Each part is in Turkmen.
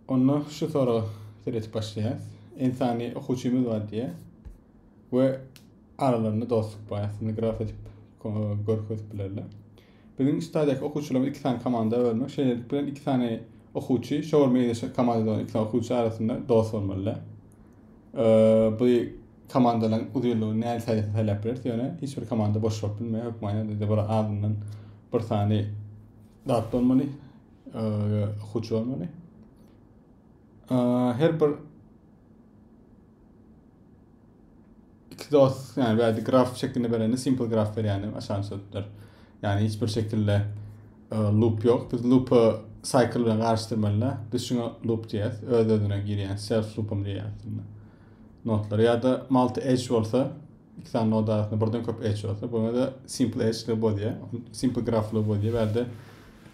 Onda şu soraga seredip başlaýarys. Insany okuwçymyz bar diýýär we aralarynda dostluk bar. Aslynda graf edip görkezip bilerler. Biziň stadiýaky okuwçylarymyz iki sany komanda bölmek. Şeýlelik bilen iki sany okuwçy şol meýleşen komandada bolan iki sany okuwçy arasynda dost bolmalylar. Bu komandalaryň uzynlygy näçe sähel saýlap bileris, ýöne hiç bir komanda boş bolup bilmeýär. Hökmany ýagdaýda bir azyndan bir sany zat bolmaly. Huç olmaly. Her bir iki dost, yani bädi graf şeklinde berende simple graf berýäni aşan sözler. Yani hiç bir şekilde loop yok. Biz loop'u cycle bilen garşdyrmalylar. Biz şuna loop diýýäs. Öz özüne girýän self loop'um diýýäs. Notlar ya da multi edge bolsa iki tane nod arasynda birden köp edge bolsa buna da simple edge loop diýýär. Simple graf loop diýýär. Bäde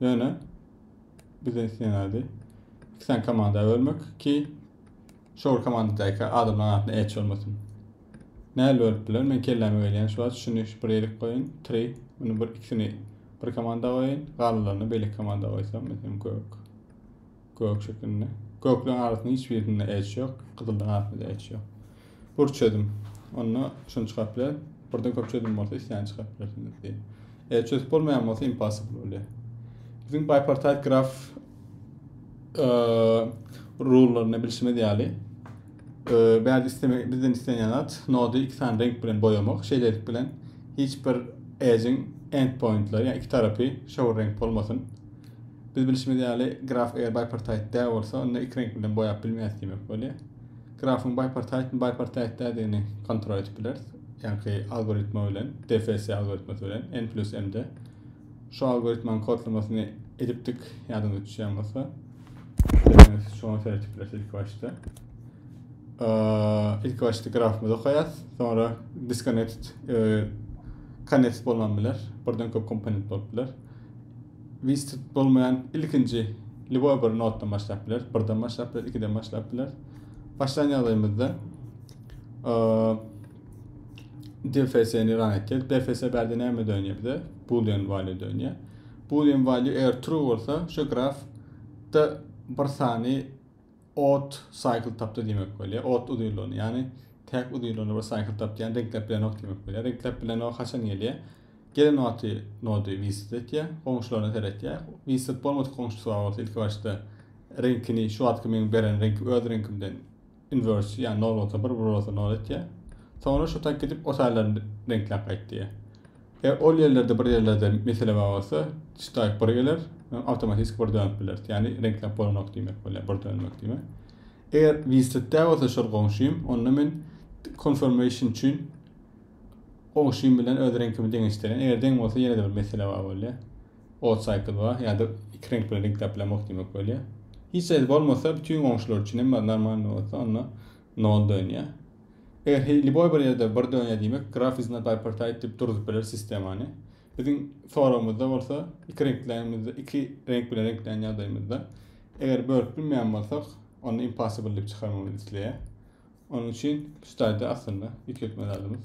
Ýöne bize islenýärdi. İki tane komanda bölmek ki şol komandadaky adamlaryň arasynda eç olmasyn. Näl bölüp biler? Men kelläme gelýän şu wagt şuny bir ýerik goýun. 3. Bunu bir ikisini bir komanda goýun. Galanlaryny beýleki komanda goýsam, meselem gök. Gök şekilinde. Gökleň arasynyň hiç birinde edge ýok, gyzyldan arasynda edge ýok. Bur çözüm. Onda şuny çykaryp bilerin. Burdan köp çözüm bolsa islän çykaryp bilersiňiz diýen. Edge çözüp bolmaýan bolsa impossible bolýar. Biziň bipartite graf rullaryny bilşimiz ýaly bäzi isteme bizden islenýän zat nody iki sany renk bilen boýamak. Şeýlelik bilen hiç bir edge-iň endpointleri, ýa iki tarapy şowur renk bolmasyn. Biz bilşimiz ýaly, graf eger bipartite däl bolsa, onda iki reňk bilen boýap bilmeýäs diýmek bolýar. Grafyň bipartitemi, bipartite däldigini kontrol edip bileris. Ýaňky algoritma bilen, DFS algoritmasy bilen, n plus m-de. Şu algoritmanyň kodlamasyny edipdik, ýadyňyza düşýän bolsa. Dileseňiz, şoňa seredip bileris ilki başda. İlk başda grafymyzy okaýas, sonra disconnected, e, connected bolman biler, birden köp komponent bolup biler. Wist bolmaýan ilkinji lýuboý bir notdan başlap biler. Birden başlap biler, ikiden başlap biler. Başlan ýagdaýymyzda DFS-ni ran etdik. DFS bärde näme dönýär bize? Boolean value dönýär. Boolean value eger true bolsa, şu graf da bir sany Ot cycle tapdy diýmek bolýar. Ot uzynlygyny, ýagny täk uzynlygyny bir cycle tapdy, ýagny reňkläp bilenok diýmek bolýar. Reňkläp bilenok haçan gelýär? Gelen wagty nody visit etýär, goňşularyna seretýär. Visit bolmadyk goňşusy bar bolsa ilki başda reňkini şu wagtky meň beren reňki öz reňkimden inverse, ýagny nol bolsa bir, bir bolsa nol etýär. Soňra şu tak gidip o taýlaryny reňkläp gaýtýar. Eger ol ýerlerde bir ýerlerde mesele bar bolsa, Disktype bir geler, awtomatiki bir dönüp bileris. Ýagny reňkläp bolanok diýmek bolýar, bir dönmek diýmek. Eger Wislet däl bolsa şol goňşym, onda men confirmation üçin goňşym bilen öz reňkimi deňeşdirýän. Eger deň bolsa ýene-de bir mesele bar bolýar. Odd cycle bar, ýa-da iki reňk bilen reňkläp bilemok diýmek bolýar. Hiç zat bolmasa, bütin goňşular üçin hem bar, normalny bolsa, onda Nol dönýä. Eger he liboý bir ýerde bir dönýä diýmek graf is not bipartite diýip durzup bileris sistemany. Biziň soragymyzda bolsa iki reňklämizde iki reňk bilen reňklän ýagdaýymyzda eger bölüp bilmeýän bolsak onda impossible diýip çykarmagyny isleýär. Onuň üçin şu taýda aslynda ýüklekme zadymyz.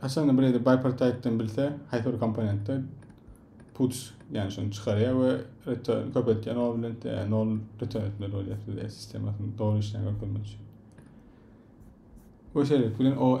Haçanda Bredi bipartite'den bilse, haýsy bir komponentde puts, ýagny şuny çykarýar we return köpeltýär, nol bilen nol return etmeli bolýar size sistemasyny dogry işleýän görkezmek üçin. Bu şerik bilen o